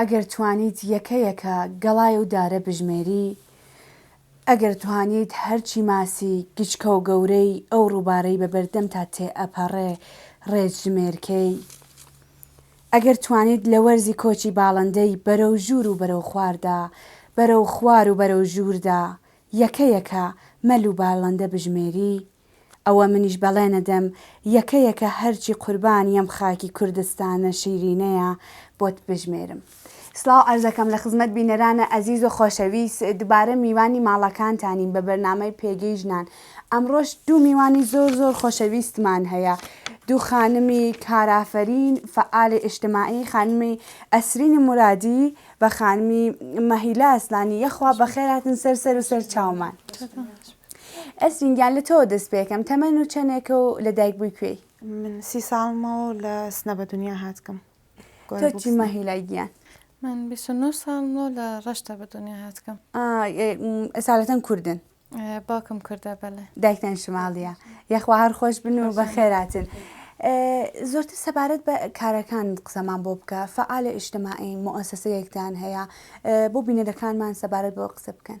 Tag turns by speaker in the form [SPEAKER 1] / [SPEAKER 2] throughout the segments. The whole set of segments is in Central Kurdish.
[SPEAKER 1] ئەگەر توانیت یەکە یەکە گەڵای و دارە بژمێری، ئەگەر توانیت هەرچی ماسی گچکە و گەورەی ئەو ڕووبارەی بە بەردەمتا تێ ئەپەڕێ ڕێت ژمێرکەی، ئەگەر توانیت لە وەرزی کۆچی باڵندەی بەرەو ژوور و بەرەو خواردا، بەرەو خوار و بەرەو ژووردا یەکە یەکە مەل و بالندە بژمێری، ئەوە منیش بەڵێنەدەم یەکە یەکە هەرچی قوربانی ئەم خاکی کوردستانە شیرینەیە بۆت بژمێرم. سڵاو عەرزەکەم لە خزمەت بینەرانە ئەزیز و خۆشەویست دوبارە میوانی ماڵەکانتانین بە بەرنامەی پێگەی ژنان ئەمڕۆش دوو میوانی زۆر زۆر خۆشەویستمان هەیە دوو خانمی کارافەرین فەعالی ئیشتماعی خانمی ئەسرینی مرادی و خانمی مەهیلا ئەسلانی یەخوا بەخێراتن سەر سەر و سەر چاومان ئەسرین گیان لە تۆوە دەست پێکەم تەمەن و چەنێکە و لە دایک بووی کوێی من سی ساڵمەوە
[SPEAKER 2] و لە سنە بە دنیا هاتکم تۆ چی
[SPEAKER 1] مەهیلای گیان من بیست و نۆ
[SPEAKER 3] ساڵمەوە لە ڕەشتە بە دنیا هاتکم
[SPEAKER 1] ئەسالەتەن کوردن باوکم کوردە
[SPEAKER 3] بەلێ دایکتان شماڵیە
[SPEAKER 1] یەخوا هەر خۆش بن و بە خێراتن زۆرتر سەبارەت بە کارەکان قسەمان بۆ بکە فعالە ئیشتماعی مؤسسەیەکتان هەیە بۆ بینەرەکانمان سەبارەت بۆ قسە بکەن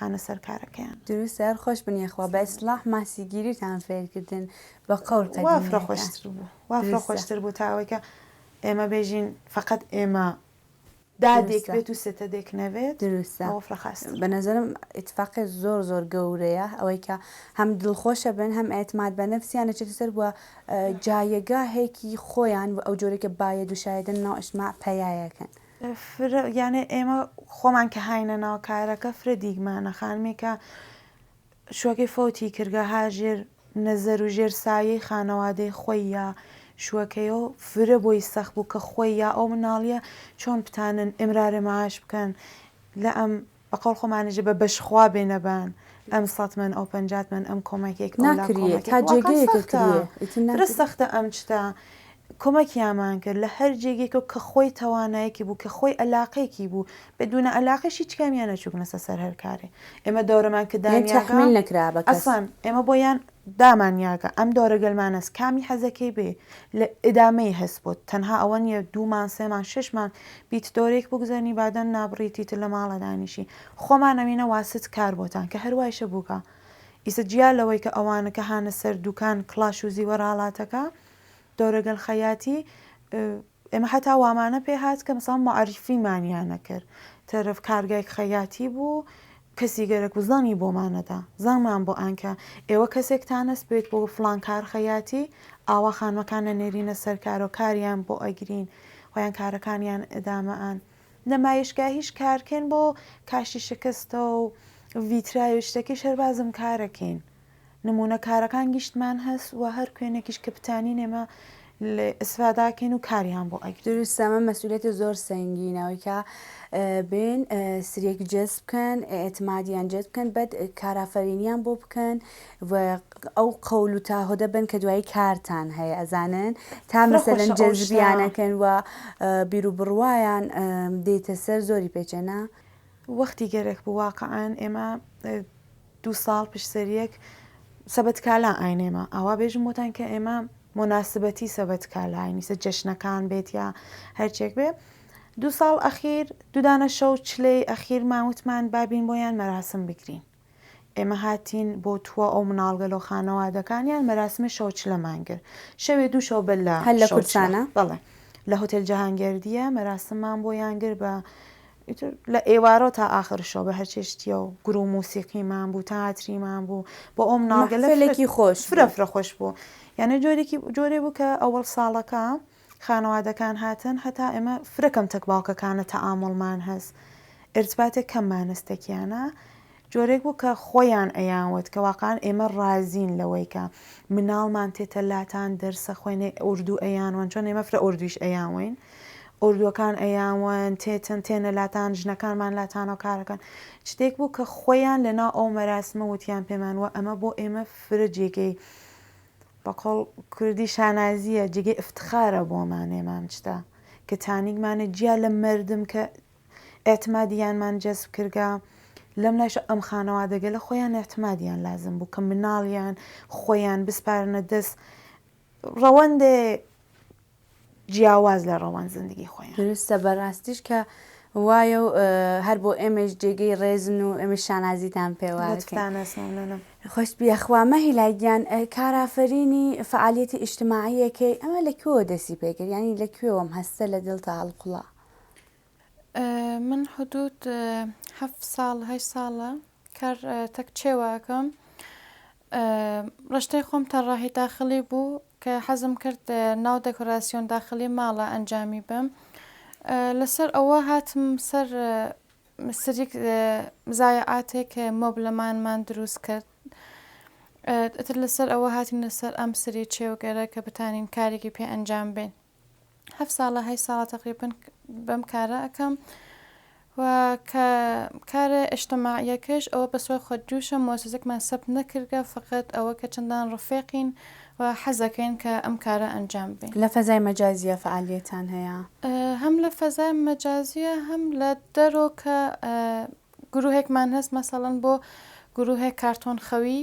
[SPEAKER 2] هانە سەر کارەکەیان. دروستە هەر خۆش بن
[SPEAKER 1] یەخوا بە ئیسلاح ماسیگیریتان فێرکردن بە قەول وافرە خۆشتر
[SPEAKER 2] بوو وافرە خۆشتر بوو تا ئەوەیکە ئێمە بێژین فقط ئێمە دادێک بێت و سێتە دێک نەبێت دروستە وافرە خاست
[SPEAKER 1] بە
[SPEAKER 2] نەزەرم
[SPEAKER 1] ئیتفاقی زۆر زۆر گەورەیە ئەوەیکە هەم دڵخۆشە بن هەم ئەعتماد بە نەفسیان نەچێتە سەر بووە جایەگاهێکی خۆیان و ئەو جۆرێکە بایە دوشایەدن ناو ئەشما پەیایەکەن. فرە
[SPEAKER 2] یانێ ئێمە خۆمان کە هاینە ناو کارەکە فرە دیگمانە خانمێکە شوەکەی فەوتی کردگە هاژێر نەزەر و ژێر سایەی خانەوادەی خۆی یا شوەکەی و فرە بۆی سەخت بوو کە خۆی یا ئەو مناڵیە چۆن بتانن ئمرارە معاش بکەن لە ئەم بە قەوڵ خۆمانیش بە بەش خوا بێ نەبان ئەم سەت مەن ئەو پەنجات مەن ئەم کۆمەکێک ئەو لا کۆمەکێک ناکریێ تا واقعا
[SPEAKER 1] جێگەیەکە سەختە کریێ ئیتر فرە ناکریێ سەختە ئەم
[SPEAKER 2] شتە کۆمەکیامان کرد لە هەر جێگێکەوە کە خۆی توانایەکی بوو کە خۆی ئەلاقەیەکی بوو بە دوونە ئەلاقەش هیچ کامیان نەچووبنەسە سەر هەر کارێ ئێمە دەورەمان کە یان دانیاگا تەحمیل نەکرا بە
[SPEAKER 1] کەس ئەسڵەن ئێمە بۆ یان
[SPEAKER 2] دامان یاگە ئەم دەورە گەلمانەس کامی حەزەکەی بێ لە ئدامەی هەس بۆت تەنها ئەوە نیە دوومان سێمان شەشمان بیت دەورەیەک بگوزەرنی بادەم نابڕی تیتر لە ماڵە دانیشی خۆمان ئەوینە واست کار بۆتان کە هەر وایشە بووکە ئیسە جیا لەوەی کە ئەوانە کە هانە سەر دووکان کڵاش و زیوەر ئالاتەکە دەورە گەل خەیاتی ئێمە حەتا وامانە پێ هات کە مەسەڵەن موعەریفیمانیان نەکرد، تەرەف کارگای خەیاتی بوو، کەسی گەرەک بوو زەنگی بۆمان نەدا، زەنگمان بۆ ئان کە ئێوە کەسێکتان هەست بێت بۆ فڵان کار خەیاتی، ئاوا خانمەکان نەنێرینە سەر کارەوە کاریان بۆ ئەگرین، خۆیان کارەکانیان ئیدامە ئەن. نمایشگاهیش کارکەین بۆ کاشی شکستە و ڤیترای و شتەکەیش هەر بازم کارەکەین. نمونە کارەکان گیشتمان هەس وە هەر کوێنێکیش کە بتانین ئێمە لێ ئیسفادە ئەکەین و کاریان بۆ ئەکەین. دروستە ئەمە مەسئولیەتە
[SPEAKER 1] زۆر سەنگینە ئەوەی کە بێن سریەک جەس بکەن ئێعتمادیان جەس بکەن بەد کارافەرینیان بۆ بکەن و ئەو قەول و تاهۆدە بن کە دوایی کارتان هەیە ئەزانن تا مەسەلەن جەزبیانەکەن و بیرو بڕوایان دێتە سەر زۆری پێچێنە وەختی
[SPEAKER 2] گەرەک بوو واقعەن ئێمە دوو ساڵ پشت سەر یەک سەبەت کالا ئاینێمە ئاوا بێژم بۆتان کە ئێمە مۆناسبەتی سەبەت کالاینیسە جەشنەکان بێت یا هەرچێک بێ دوو ساڵ ئەخیر دوودانە شەو چلەی ئەخیر ماوتمان بابین بۆیان مەراسم بگرین ئێمە هاتین بۆ تووە ئەو مناڵگە لۆ خانەوادەکانیان مەراسمە شەو چلەمان کرد شەوێ دوو شەو بە لە هەل لە کورسانە
[SPEAKER 1] بەڵێ لە
[SPEAKER 2] هۆتێل جەهانگەردیە مەراسممان بۆ یانگر بە ئیتر لە ئێوارەوە تا ئاخر شەو بە هەر چێ شتیە و گور و موسیقیمان بوو تاتریمان بوو بۆ ئەوم ناوگەلێکی خۆش فرە فرە
[SPEAKER 1] خۆش بوو
[SPEAKER 2] یانە جۆرێکی جۆرێ بوو کە ئەوەڵ ساڵەکە خانەوادەکان هاتن هەتا ئێمە فرەکەم تەک باوکەکانە تەعامڵمان هەست ئرتباتێک کەممانەستەکیانە جۆرێک بوو کە خۆیان ئەیانوت کە واقعەن ئێمە ڕازین لەوەی کە مناڵمان تێتە لاتان دەرسە خوێنێ ئوردوو ئەیانوەن چۆن ئێمە فرە ئوردوویش ئەیانوەین ئوردووەکان ئەیانوەن تێتن تێنە لاتان ژنەکانمان لاتانەوە کارەکەن شتێک بوو کە خۆیان لەنا ئەو مەراسمە وتیان پێمان وە ئەمە بۆ ئێمە فرە جێگەی بەقۆڵ کوردی شانازیە جێگەی افتخارە بۆمان ئێمام شتە کە تانیگمانە جیا لە مردم کە ئیعتمادییانمان جەزب کردگە، لەم لایشەوە ئەم خانەوادەگەلە خۆیان ئیعتمادییان لازم بوو کە مناڵیان خۆیان بسپارنە دەس ڕەوەندێ جیاواز لە ڕەوەند زندگی خۆیان. دروستە بەڕاستیش
[SPEAKER 1] کە وایە و هەر بۆ ئێمەیش جێگەی ڕێزن و ئێمەش شانازیتان پێوە دەکەین. لەتفتان ئەس
[SPEAKER 2] مەمنونم. خۆشت بیە
[SPEAKER 1] خوا مەهیلا گیان کارافەرینی فەعالیەتی ئیجتماعیەکەی ئەمە لە کوێوە دەسی پێکرد یانی لە کوێوەم هەستە لە دڵتا هەڵقوڵا.
[SPEAKER 3] من حدود هەفت ساڵ هەشت ساڵە کار تەک چێواکەم ڕشتەی خۆم تەڕاهی داخلی بوو کە حەزم کرد ناو دەکۆراسیۆن داخلی ماڵە ئەنجامی بم لەسەر ئەوە هاتم سەر سریک زایعاتێک مۆبلەمانمان دروست کرد ئەتر لەسەر ئەوە هاتین لەسەر ئەم سری چێوگەرە کە بتانین کارێکی پێ ئەنجام بێن هەفت ساڵە هەشت ساڵە تەقریبەن بەم کارە ئەکەم و کە کارە ئشتماعیەکەش ئەوە بە سوای خۆت جوشە مۆسزەکمان سەب نەکردگە فقط ئەوە کە چەندان ڕفێقین و حەزەکەین کە ئەم کارە ئەنجام بێ لە فەزای مەجازیە
[SPEAKER 1] فعالیەتان هەیە هەم لە فەزای
[SPEAKER 3] مەجازیە هەم لە دەرۆ کە گروهێکمان هەست مەسەڵەن بۆ گروهێک کارتۆن خەوی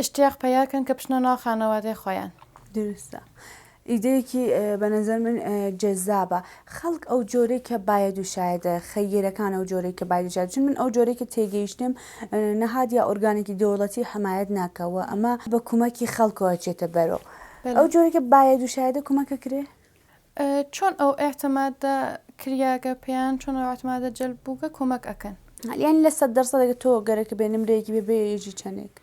[SPEAKER 3] ئشتیاق پەیا کەن کە بچنە ناو خانەوادەی خۆیان. دروستە
[SPEAKER 1] ئیدەیەکی بە نەزەر من جەزابە خەڵک ئەو جۆرەی کە بایەد و شایەدە خەییرەکان ئەو جۆرەی کە بایەد و شایەدە چون من ئەو جۆرەی کە تێگەیشتم نەهاد یا ئۆرگانێکی دەوڵەتی حەمایەت ناکا و ئەمە بە کومەکی خەڵکەوە ئەچێتە بەرەو ئەو جۆرەی کە بایەد و شایەدە کومەک ئەکرێ چۆن
[SPEAKER 3] ئەو ئیعتمادە کریاگە پێیان چۆن ئەو ئیعتمادە جەلب بووگە کۆمەک ئەکەن؟ یانی لە سەد
[SPEAKER 1] دەرسەدەگە تۆ گەرەکە بێ نمرەیەکی بێ بێ یەژی چەنێک؟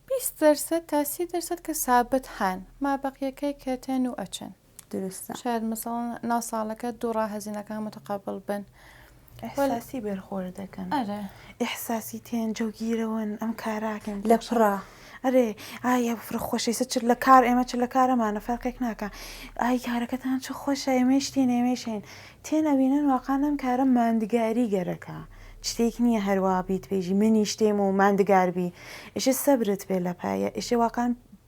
[SPEAKER 1] بیست
[SPEAKER 3] دەرسەد تا سی دەرسەد کە سابت هان مابەقیەکەی کە تێن و ئەچن. دروستە. شاید
[SPEAKER 1] مەسەڵەن
[SPEAKER 3] ناو ساڵەکە دوو ڕا هەزینەکان متقابل بن. ئیحساسی
[SPEAKER 2] بەرخۆر دەکەن ئەرێ ئیحساسی تێن جەوگیرەوەن ئەم کاراکەن لە پڕا
[SPEAKER 1] ئەرێ
[SPEAKER 2] ئایا فرە خۆشەیسە چ لە کار ئێمە چ لە کارەمانە فەرقێک ناکە ئای کارەکەتان چ خۆش ئێمەشتی نێمێشین تێن ئەوینەن واقعانم کارە ماندگاری گەرەکە شتێک نییە هەروە بیت پێژی منی شتێم و ماندگاربی ئیشە سەبرت پێ لە پایە ئیشێ واقعان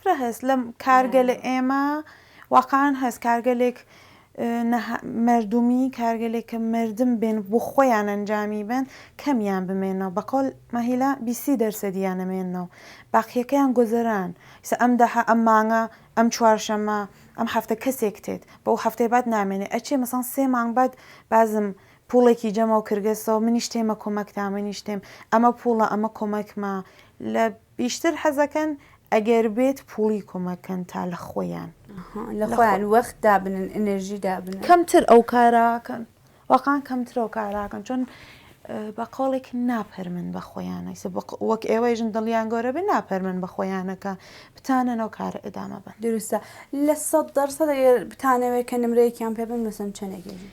[SPEAKER 1] فرە هەس لەم
[SPEAKER 2] کارگە لە ئێمە واقعان هەس کارگەلێک مردمی کارگەلێکە مردم بێن بۆ خۆیان ئەنجامی بن کەمیان بمێنەوە بەقۆل مەهیلا بیسی دەرسەدیان نەمێنەوە باقیەکەیان گۆزەران سە ئەم دەحە ئەم مانگە ئەم چوارشەمە ئەم هەفتە کەسێک تێت بۆ هەفتەی بات نامێنێ ئەچێ مەسان سێ مانگ بات بازم پوڵێکی جەمەوە کردگەسەوە منیش تێمە کۆمەکتا منیش تێم ئەمە پوڵە ئەمە کۆمەکمە لە بیشتر حەزەکەن ئەگەر بێت پوڵی کۆمەک کەن تا لە خۆیان. ئەها لە خۆیان
[SPEAKER 1] وەخت دابنن ئینێرژی دابنن. کەمتر ئەو کارە
[SPEAKER 2] کەن واقعەن کەمتر ئەو کارە کەن چۆن بە قەوڵێک ناپەرمن بە خۆیان ئەیسە وەک ئێوەیژن دڵیان گەورە بێ ناپەرمن بە خۆیانە کە بتانەن ئەو کارە ئێدامە بەن. دروستە لە
[SPEAKER 1] سەد دەرسەد ئەگەر بتانەوێ کە نمرەیەکیان پێ بن مەسەن چەنێک ئێژن؟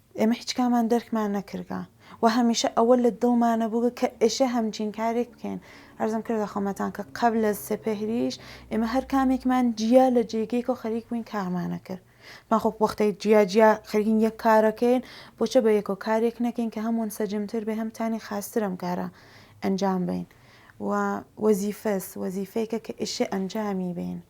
[SPEAKER 2] ئێمە هیچ کامان دەرکمان نەکردگە و هەمیشە ئەوە لە دڵمانە بووگە کە ئێشێ هەمچین کارێک بکەین. عەرزم کردە خەمەتان کە قەبل از سپهریش ئێمە هەر کامێکمان جیا لە جێگەیەکەوە خەریک بووین کارمانە کرد. بە خۆ وەختێ جیا جیا خەریکین یەک کارەکەین بۆچە بە یەکەوە کارێک نەکەین کە هەم ونسەجم تر بێ هەم تانی خاستر ئەم کارە ئەنجام بەین و وەزیفەس وەزیفەیەکە کە ئێشێ ئەنجامی بەین.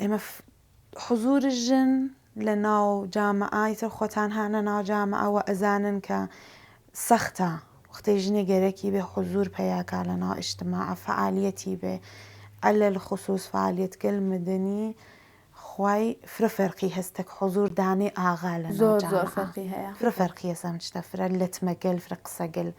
[SPEAKER 2] ئێمە حزور ژن لە ناو جامعە ئیتر خۆتان هانە ناو جامعە وە ئەزانن کە سەختە وەختەی ژنێ گەرەکی بێ حزور پەیاکا لە ناو ئیشتما فعالیەتی بێ ئەلە خصوص فعالیت گەل مدنی خوای فرە فەرقی هەستەک حزور دانێ ئاغا لە ناو جامعە
[SPEAKER 1] فرە فەرقی هەسە ئەم شتە
[SPEAKER 2] فرە لەتمەگەل فرە قسەگەل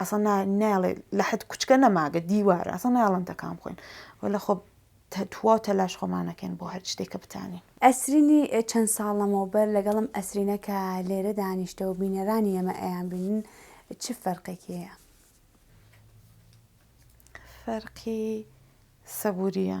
[SPEAKER 2] ئەسڵەن نا نایڵێ لە حد کوچکە نەماگە دیوارە ئەسڵەن نایڵن تەکان بخۆین وەلە خۆ توا و تەلاش خۆمان نەکەین بۆ هەر شتێک کە بتانین. ئەسرینی
[SPEAKER 1] چەند ساڵ لەمەوبەر لەگەڵم ئەسرینە کە لێرە دانیشتە و بینەرانی ئێمە ئەیانبینن چ فەرقێکی هەیە؟
[SPEAKER 2] فەرقی سەبوورییە.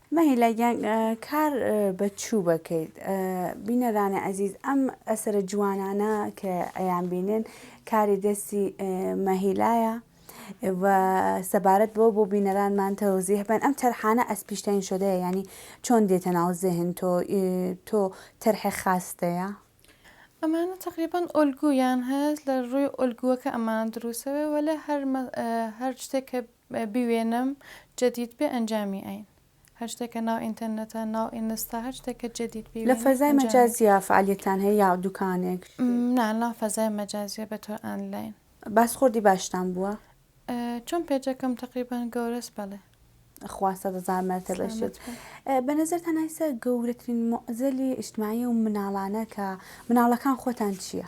[SPEAKER 3] مەهیلا گیان
[SPEAKER 1] کار بە چوو بەکەیت بینەرانی عزیز ئەم ئەسرە جوانانە کە ئەیان بینن کاری دەستی مەهیلایە و سەبارەت بۆ بۆ بینەرانمان تەوزیح بن ئەم تەرحانە ئەس پیشتین شدەیە ینی چۆن دێتە ناو زهن تۆ تۆ تەرحێ خاستەیە ئەمانە
[SPEAKER 3] تقریبان ئۆلگویان هەست لە ڕووی ئۆلگووەکە ئەمان دروسەوە وە لە هەر هەر شتێک کە بوێنم جدید بێ ئەنجامی ئەین. هەر شتێک کە ناو ئینتەرنێتە ناو ئینستا هەر شتێک کە جدید لە بیوێنم فەزای ئەنجامی ئەین. مەجازیە
[SPEAKER 1] فەعالیەتتان هەیە یا دوکانێک؟ نا لە فەزای
[SPEAKER 3] مەجازیە بە تۆ ئانلاین. باسخۆردی باشتان
[SPEAKER 1] بووە؟ چۆن
[SPEAKER 3] پێجەکەم تەقریبەن گەورەس بەڵێ. خوا سەد
[SPEAKER 1] هەزار مەرتەبەش سلامەت بێت. بن. بە نەزەرتان ئایسە گەورەترین موعزەلی ئیجتماعی و مناڵانە کە مناڵەکان خۆتان چیە؟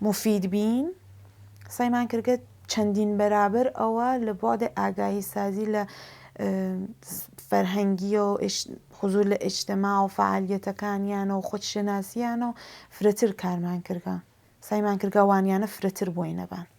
[SPEAKER 2] موفید بین، سەعی مان کرد کە چەندین بەرابەر ئەوە لە بۆعدی ئاگاهی سازی لە فەرهەنگییەو حزور لە ئیجتماع و فەعالیەتەکانیانە و خود شناسیانە و فرەتر کارمان کردگە سەعی مان کردگە وانیانە فرەتر بۆینەبان.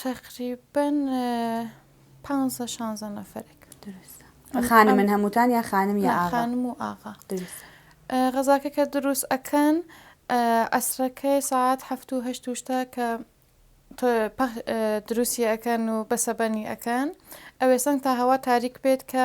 [SPEAKER 1] تەقریبەن
[SPEAKER 3] پانزە شانزە نەفەرێک. دروستە.
[SPEAKER 1] خانمن هەمووتان یا خانم یا ئاغا؟ خانم و ئاغا.
[SPEAKER 3] دروستە. غەزاکە کە دروست ئەکەن عەسرەکەی سەعات هەفت و هەشت و شتە کە دروستی ئەکەن و بەسەبەنی ئەکەن ئەوێ سەنگ تا هەوا تاریک بێت کە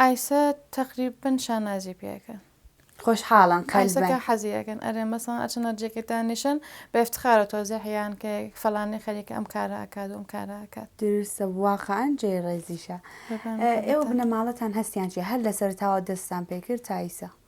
[SPEAKER 3] ئایسە تەقریبەن شانازی پێ ئەکەن. خۆشحاڵن
[SPEAKER 1] قەلبەن. ئایسە کە حەزی
[SPEAKER 3] ئەکەن ئەرێن مەسەڵەن ئەچن هەرجێکێک دانیشن بە ئیفتخارە تۆزێ حیان کە فەلانی خەریکە ئەم کارە ئەکات و ئەم کارە ئەکات. دروستە واقعەن
[SPEAKER 1] جێی ڕێزیشە. ئێوە بنەماڵەتان هەستیان چیە؟ هەر لە سەرەتاوە دەستتان پێ کرد تا ئیسە.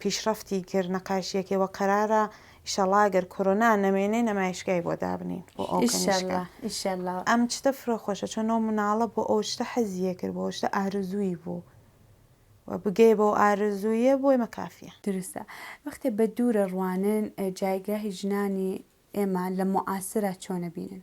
[SPEAKER 2] پیشڕەفتی کرد نەقاشیەکەی وە قەرارە ئیشەڵا گەر کۆرۆنا نەمێنێ نەمایشگای بۆ دابنین بۆ ئەو کەنیشکە. ئیشەڵا ئیشەڵا ئەم چتە فرە خۆشە چۆن ئەو مناڵە بۆ ئەو شتە حەزیە کرد بۆ ئەو شتە ئارزووی بوو و بگەیە بەو ئارزوویە بۆ ئێمە کافیە. دروستە وەختێ
[SPEAKER 1] بە دوو رە روانن جایگاهی ژنانی ئێمە لە موعاسرە چۆنە بینن؟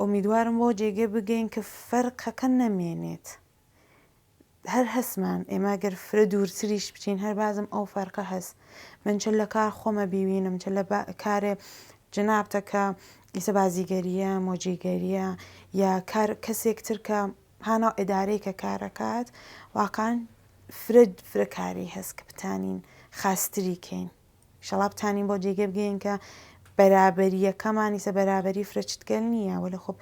[SPEAKER 2] ئۆمیدوارم بەوە جێگەی بگەین کە فەرقەکە نەمێنێت هەر هەسمان ئێمە گەر فرە دوورتریش بچین هەر بازم ئەو فەرقە هەست من چ لە کار خۆمە بیوینم چ لە کارێ جنابتەکە ئیسە بازیگەریە مۆجیگەریە یا کار کەسێک ترکە هانا ئەدارەی کە کارەکات واقعان فرە فرەکاری هەست کە بتانین خاستری کەین ئیشەڵا بتانین بەو جێگەی بگەین کە بەرابەرییەکەمان ئیسە بەرابەری فرە چتگەل نییە وەلێ خۆ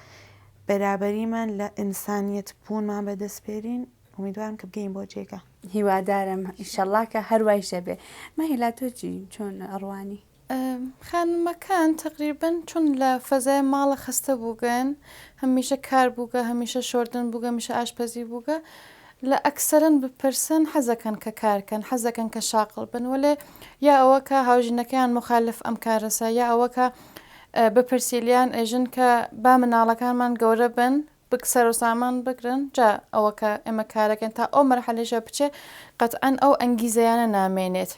[SPEAKER 2] بەرابەریمان لە ئینسانیەت بوونمان بەدەستپێرین ئومیدوارم کە بگەین بۆ جێگە هیوادارم
[SPEAKER 1] ئیشەڵا کە هەروایشە بێ مەهیلا تۆجی چۆن ئەڕوانی خانمەکان
[SPEAKER 3] تقریبن چون لە فەزای ماڵە خەستە بووگەن هەمیشە کار بووگە هەمیشە شۆردن بووگە میشە ئاشپەزی بووگە لە ئەکسەرن بپرسن حەزەکەن کە کار کەن حەزەکەن کە شاقڵ بن وەلێ یا ئەوە کە هاوژینەکەیان موخالف ئەم کارەسە یا ئەوە کە بپرسی لیان ئێژن کە با مناڵەکانمان گەورە بن بک سەرو سامان بگرن جا ئەوە کە ئێمە کارەکەن تا ئەو مەرحەلەیشە بچێ قەتعەن ئەو ئەنگیزەیانە نامێنێت.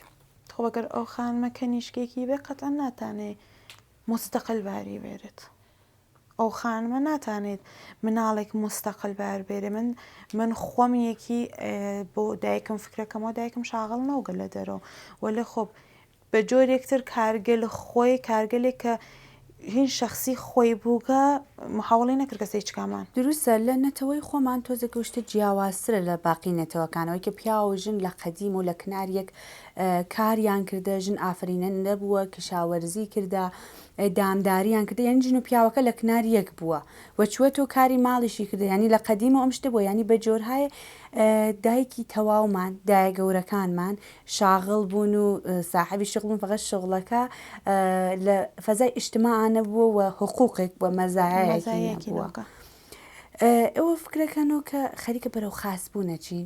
[SPEAKER 3] خۆ گەر ئەو
[SPEAKER 2] خانمە کەنیشکێکی بێ قەتعەن ناتانێ موستەقل باری بێرێت. ئەو خانمە ناتانێت مناڵێک مستەقل بار بێرێ من من خۆم یەکی بۆ دایکم فکرەکەمەوە دایکم شاغڵ نەوگە لە دەرەوە وە لە خۆب بە جۆرێکتر کارگەل خۆی کارگەلێک کە هین شخصی خۆی بووگە محاوڵی نەکرد کەسە هیچ کامان دروستە لە نەتەوەی
[SPEAKER 1] خۆمان تۆزە گەشتە جیاوازترە لە باقی نەتەوەکانەوەی کە پیاو و ژن لە قەدیم و لە کناریەک کاریان کردە ژن ئافرینە نەبووە کشاوەرزی کردە دامداریان کردە یانی ژن و پیاوەکە لە کنار یەک بووە و چوەتەو کاری ماڵیشی کردە یانی لە قەدیمەوە ئەم شتە بووە یانی بە جۆرهای دایکی تەواومان دایە گەورەکانمان شاغڵ بوون و ساحەبی شغڵ بوون فەقەت شغڵەکە لە فەزای ئیشتماعا نەبووە و حقوقێک بووە مەزایایەکی نەبووە ئێوە فکرەکەنەوە کە خەریکە بەرەو خاس بوونە چین.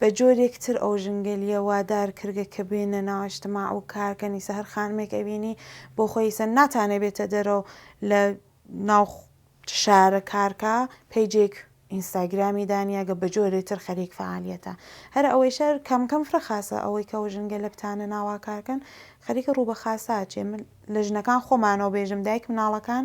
[SPEAKER 2] بە جۆرێک تر ئەو ژنگەلیە وادار کردگە کە بێنە ناو ئیجتماع و کار کەن ئیسە هەر خانمێک ئەبینی بۆ خۆی ئیسە ناتانێ بێتە دەرەوە لە ناو شارە کار کا پەیجێک ئینستاگرامی دانیاگە بە جۆرێ تر خەریک فعالیەتە هەر ئەوەی شار کەم کەم فرە خاسە ئەوەی کە ئەو ژنگە لە بتانە ناوا کار کەن خەریکە ڕوو بە خاساچێ من لە ژنەکان خۆمانەوە بێژم دایک مناڵەکان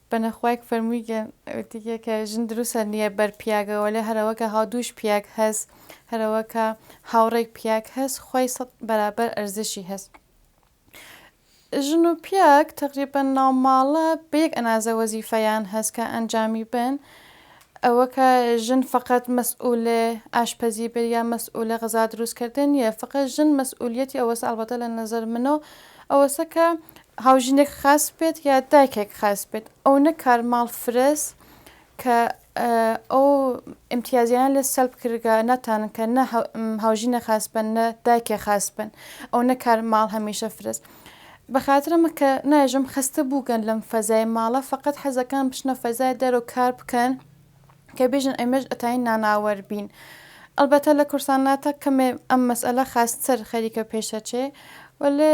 [SPEAKER 3] بەنە خوایگ فەرمویگن وتیگە کە ژن دروسە نیە بەر پیاگە وەلێ هەرەوەکە هاودووش پیاگ هەس هەرەوەکە هاوڕێگ پیاگ هەس خوەی سەد بەرابەر ئەرزشی هەس ژن و پیاگ تەقریبەن ناو ماڵە بە یەک ئەنازە وەزیفەیان هەس کە ئەنجامی بەن ئەوە کە ژن فەقەت مەسئولێ ئاشپەزی بێ یا مەسئولە غەزا دروس کردن نیە فەقەت ژن مەسئولیەتی ئەوەسە ئەڵبەتە لە نەزەر منۆ ئەوەسە کە هاوژینێک خاس بێت یا دایکێک خاس بێت ئەو نە کارماڵ فرەس کە ئەو امتیازیان لە سەلب کردگە ناتان کە نە هاوژینە خاس بن نە دایکێ خاس بن ئەو نە کارماڵ هەمیشە فرەس بە خاترمە کە ناژم خستە بووگەن لەم فەزای ماڵە فقط حەزەکان بچنە فەزای دەرەوە کار بکەن کە بێژن ئەمەش ئەتاین ناناوەر بین ئەلبەتە لە کورساناتە کەمێ ئەم مەسئلە خاستر خەریکە پێشەچێ وەلێ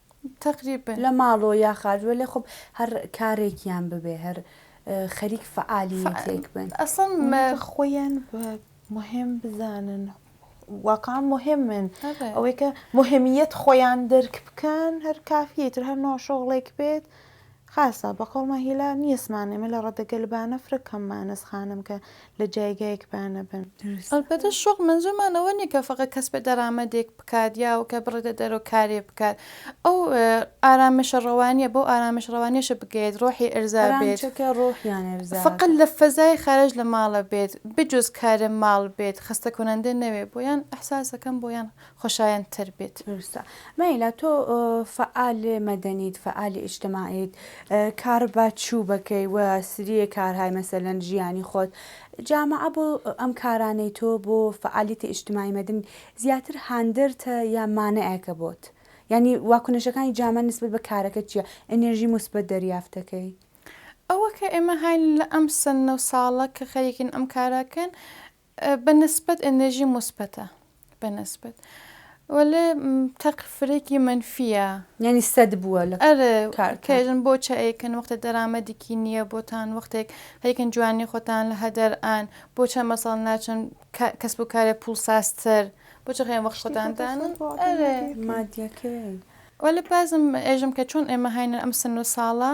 [SPEAKER 1] تەقریبەن. لە
[SPEAKER 3] ماڵەوە یا
[SPEAKER 1] خارج وەلێ خۆ هەر کارێکیان ببێ هەر خەریک فەعالییەتێک بن. ئەسڵەن مە.
[SPEAKER 2] خۆیان بە موهێم بزانن واقعەن موهێمن ئەوەی کە موهێمییەت خۆیان دەرک بکەن هەر کافییە ئیتر هەر نۆ شۆغڵێک بێت خاصە، بە قەومە هیلا نیەسمان ئێمە لە ڕەدەگە لبانە فرە کەم مانە سخانم کە لە جایگایک بانە بن. ئەلبەتە شۆق
[SPEAKER 3] مەنزوومان ئەوە نیە کە فەقە کەس بێ دەرامەدێک بکات یا و کە بڕێتە دەرەوە کارێ بکات ئەو ئارامشە ڕەوانیە بەو ئارامش ڕەوانیەشە بگەیت ڕۆحی ئەرزا بێت فەقە لە فەزای خارج لە ماڵە بێت بجوز کارێ ماڵ بێت خەستە کونەندە نەوێ بۆیان ئەحساسەکەم بۆیان خۆشایەند تر بیت. دروستە مەیلا
[SPEAKER 1] تۆ فەعال مەدەنیت فەعالی ئیجتماعیت کار بە چوو بەکەی و سریێ کارهای مەسەلەن ژیانی خۆت جامەعە بۆ ئەم کارانەی تۆ بۆ فەعالیتە ئیجتماعی مەدەنی زیاتر هاندەرتە یا مانعێکە بۆت یانی واکنشەکانی جامە نسبەت بە کارەکەت چیە ئێنێرژی موسبەت دەریافت دەکەی؟ ئەوە
[SPEAKER 3] کە ئێمە هاین لە ئەم سنە و ساڵە کە خەریکین ئەم کارە کەن بە نسبەت ئێنێرژی موسبەتە بە نسبەت وەلێ تەق فرەێکی مەنفیە. یانی سەد
[SPEAKER 1] بووە لە ئەرێ کار کێژن بۆ
[SPEAKER 3] چەیکن وەختە دەرامەدیکی نییە بۆتان وەختێک هەیکن جوانی خۆتان لە هەدەر ئان بۆ چەند مەساڵ ناچن کەسب و کارێ پوڵ ساستر بۆ چ خێن وەخت خۆتاندان ئەرێ مادیەکەی
[SPEAKER 1] وەلێ
[SPEAKER 3] بازم ئێژم کە چۆن ئێمە هاینە ئەم سن و ساڵە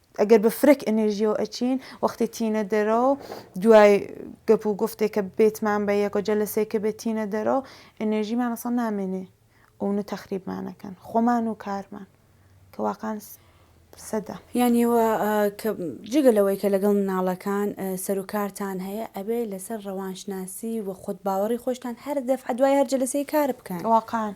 [SPEAKER 2] ئەگەر بە فرەک ئەنێرژیەوە ئەچین وەختێ تینە دەرەوە دوای گەپ و گفتێک کە بێتمان بە یەکۆ جەلەسێک کە بێت تینە دەرەوە ئەنێرژیمان ئەسڵ نامێنێ ئەونە تەخریبمانەکەن خۆمان و کارمان کە واقعان سەدە. یانی وە
[SPEAKER 1] کە جگە لەوەی کە لەگەڵ مناڵەکان سەر و کارتان هەیە ئەبێ لەسەر ڕەوانشناسی و خۆت باوەڕی خۆشتان هەر دەفعە دوای هەر جەلەسەی کار بکەن واقعان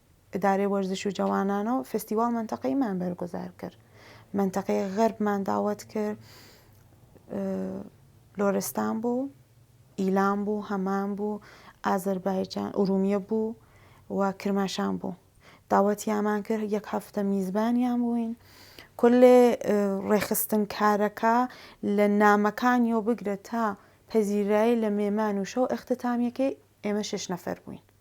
[SPEAKER 2] ئدارەی وەرزش و جەوانانەوە فستیواڵ مەنتەقەیمان بەرگوزار کرد مەنتەقەی غەربمان داوەت کرد لۆرستان بوو ئیلام بوو هەمان بوو ئازربایجان ئورومیە بوو و کرماشان بوو داوەتیامان کرد یەک هەفتە میزبانیان بووین کلێ ڕێخستن کارەکە لە نامەکانیەوە بگرە تا پەزیرایی لە مێمان و شەو ئەختتامیەکەی ئێمە شش نەفەر بووین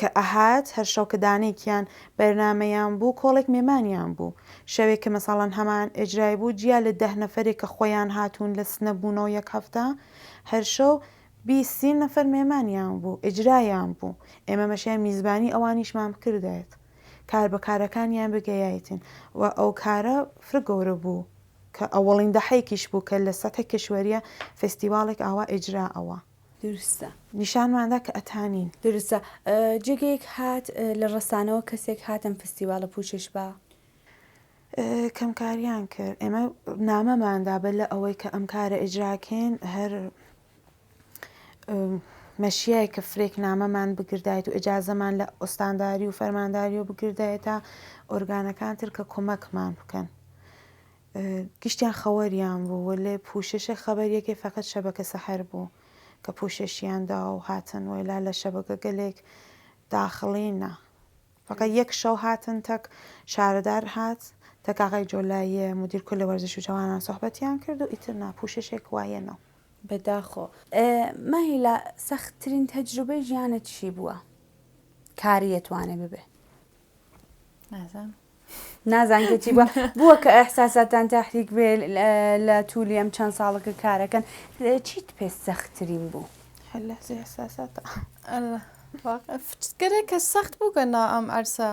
[SPEAKER 2] کە ئەهات هەر شەو کە دانەیکیان بەرنامەیان بوو کۆڵێک مێمانیان بوو شەوێک کە مەسەڵەن هەمان ئێجرای بوو جیا لە دەه نەفەرێک کە خۆیان هاتوون لە سنە بوونەوە یەک هەفتە هەر شەو بیست سی نەفەر مێمانیان بوو ئێجرایان بوو ئێمە مەشیان میزبانی ئەوانیشمان بکردایت کار بە کارەکانیان بگەیایتن و ئەو کارە فرە گەورە بوو کە ئەوەڵین دەحەیکیش بوو کە لە سەتح کشوەریە فستیواڵێک ئاوا ئێجرا ئەوە. دروستە.
[SPEAKER 1] نیشانمان دا کە
[SPEAKER 2] ئەتا نین. دروستە.
[SPEAKER 1] جێگەیەک هات لە ڕەسانەوە کەسێک هات ئەم فستیواڵە پووچش بە. کەمکاریان
[SPEAKER 2] کرد. ئێمە نامەمان دا بە لە ئەوەی کە ئەم کارە ئیجرا کەین هەر مەشیای کە فرێک نامەمان بگردایت و ئجازەمان لە ئوستانداری و فەرمانداری و بگردایە تا ئۆرگانەکان تر کە کۆمەکمان بکەن. گشتیان خەوەریان بوو وەلێ پوششە خەبەر یەکێ فەقەت شەبەکە سەحەر بوو کە پوششیان دا و هاتن وەیلا لە شەبەکە گەلێک داخڵین نا فەقەت یەک شەو هاتن تەک شارەدار هات تەک ئاغای جۆلاییە مدیر کل وەرزش و جەوانان سوحبەتیان کرد و ئیتر نا پوششێک وایە نەو بەداخۆ.
[SPEAKER 1] ماهیلا سەخت ترین تەجروبەی ژیانت چی بووە کاری ئەتوانێ ببێ؟ نازانم. نازان کە چی بووە بووە کە ئەحساساتان تاحریک بێ لە توولی ئەم چەند ساڵەکە کارەکەن چیت پێ سەختترین بوو هەلە
[SPEAKER 2] ئەحساسات
[SPEAKER 3] فچکەێک کە سەخت بوو کە نا ئەم ئەرسە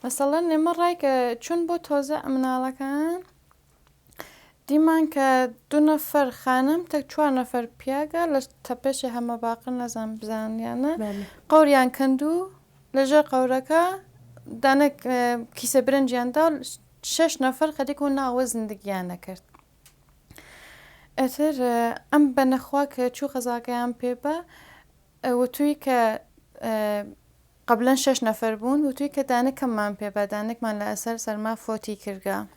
[SPEAKER 3] مەسەڵەن نێمە ڕای کە چون بۆ تۆزە ئەمناڵەکان دیمان کە دو نەفەر خانم تەک چوار نەفەر پیاگە لە تەپێشێ هەمە باقر نەزان بزانیانە قوریان کەند و لەژێر قەورەکە دانە کیسە برنجیاندا و شش نەفەر خەریک و ناوە زندگیان نەکرد ئەتر ئەم بە نەخوا کە چوو قەزاکەیان پێ بە وتووی کە قبلەن شش نەفەر بوون وتووی کە دانەکەممان پێ بە دانێکمان لە ئەسەر سەرما فۆتی کردگە.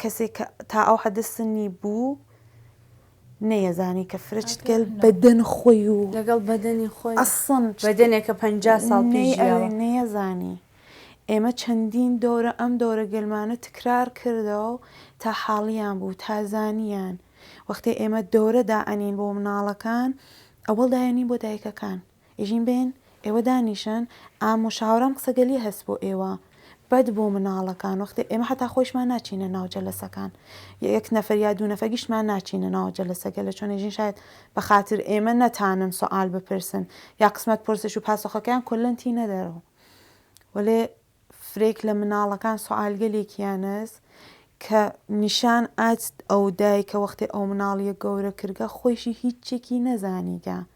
[SPEAKER 2] کەسیک تا ئەو حەدە سنی بوو نەیەزانی کە فرچ گەل بەدەن خۆی و لەگەڵ بەدەنی خۆی
[SPEAKER 1] ئەسڵەن بەدەنێک
[SPEAKER 2] کە پەنجا
[SPEAKER 1] ساڵ پیش ژیاوە نەیەزانی
[SPEAKER 2] ئێمە چەندین دەورە ئەم دەورە گەلمانە تکرار کردەوە تا حاڵیان بوو تا زانیان وەختێ ئێمە دەورە دائەنین بۆ مناڵەکان ئەوەڵ دایەنین بۆ دایکەکان ئیژین بێن ئێوە دانیشن ئام و شاورام قسەگەلی هەس بۆ ئێوە بەد بۆ مناڵەکان وەختێ ئێمە حەتا خۆیشمان ناچینە ناو جەلەسەکان یەک نەفەر یا دوو نەفەر گشتمان ناچینە ناو جەلەسەکە لە چۆن ئێژین شاید بە خاتر ئێمە نەتانن سوعال بپرسن یا قسمەت پرسش و پاسۆخەکەیان کولەن تی نەدەرەوە وەلێ فرێک لە مناڵەکان سوعالگەلێکیانەس کە نیشان ئاچ ئەو دایکە وەختێ ئەو مناڵیە گەورە کردگە خۆیشی هیچێکی نەزانیگە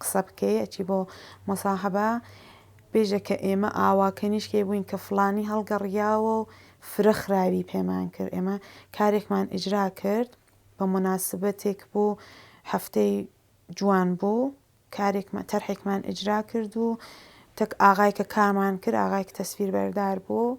[SPEAKER 2] قسە بکەی ئەچی بۆ مصاحبە بێژە کە ئێمە ئاوا کەنیشکەی بووین کە فلانی هەڵگەڕیاوە و فرە خراوی پێمان کرد ئێمە کارێکمان ئیجرا کرد بە مناسبەتێک بوو هەفتەی جوان بوو کارێکمان تەرحێکمان ئیجرا کرد و تەک ئاغای کە کارمان کرد ئاغای کە تەسویر بەردار بوو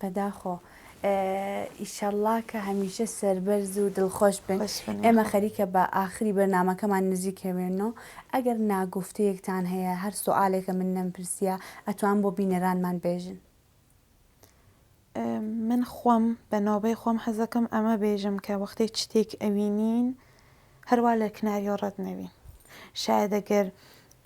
[SPEAKER 2] بەداخۆ
[SPEAKER 1] ئیشەڵڵا کە هەمیشە سەربەرز و دڵخۆش بن ئێمە خەریکە
[SPEAKER 2] بە
[SPEAKER 1] ئاخری بەرنمەکەمان نزیکەوێنەوە ئەگەر ناگفتەیەکتان هەیە هەر سوالێکە من نەمپرسیە ئەتوان بۆ بینەرانمان بێژن
[SPEAKER 2] من خۆم بە نۆبەی خۆم حەزەکەم ئەمە بێژم کە وەختێ شتێک ئەوینین هەروە لە کناریۆ ڕەت نەوین شایدەگەر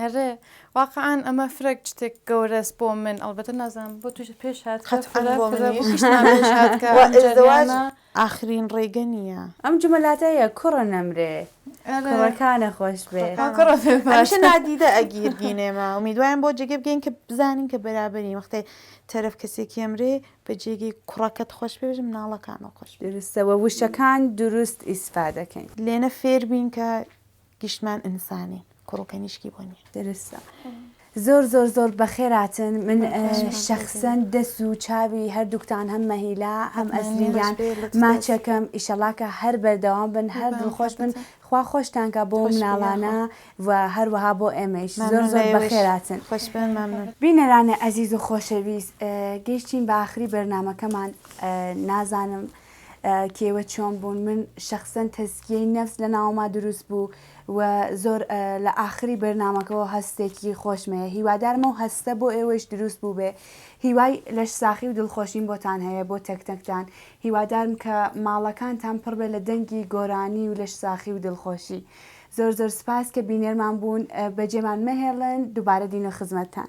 [SPEAKER 1] ئەرێ
[SPEAKER 3] واقعەن ئەمە فرەک شتێک گەورەس بۆ من ئەڵبەتە نازانم بۆ توش پێش هات قەت فرە بۆ منیش
[SPEAKER 2] ئاخرین ڕێگە نییە ئەم جمەلاتەیە
[SPEAKER 1] کوڕە نەمرێ کوڕەکانە خۆش بێ کوڕەش
[SPEAKER 2] نادیدە ئەگیر بینێمە ئومیدوایم بۆ جێگە بگەین کە بزانین کە بەرابەری وەختێ تەرەف کەسێکی ئەمرێ بە جێگەی کوڕەکەت خۆش پێژ مناڵەکانەوە خۆش درستەوە وشەکان
[SPEAKER 1] دروست ئیسفا دەکەین لێنە فێربین
[SPEAKER 2] کە گشتمان ئینسانین کوڕو کەنیشکی بۆ نیە. درستە
[SPEAKER 1] زۆر زۆر زۆر بەخێراتن من شخصەن دەست و چاوی هەردووکتان هەم مەهیلا هەم ئەسلیان ماچەکەم ئیشەڵاکە هەر بەردەوام بن هەر دڵخۆش بن خوا خۆشتانکە بۆ مناڵانە و هەروەها بۆ ئێمەش زۆر زۆر بەخێراتن بینەرانی ئەزیز و خۆشەویست گەیشتین بە ئاخری بەرنمەکەمان نازانم کێوە چۆن بوون من شەخسەن تەزکیەی نەفس لە ناوما دروست بوو و زۆر لە ئاخری بەرنمەکەەوە هەستێکی خۆشمەیە هیوادارمە و هەستە بۆ ئێوەش دروست بوو بێ هیوای لەش ساخی و دڵخۆشیم بۆتان هەیە بۆ تەکتەکتان هیوادارم کە ماڵەکانتان پڕ بێ لە دەنگی گۆرانی و لەش ساخی و دڵخۆشی زۆر زۆر سپاس کە بینێرمان بوون بەجێمان مەهێڵن دووبارە دین و خزمەتتان.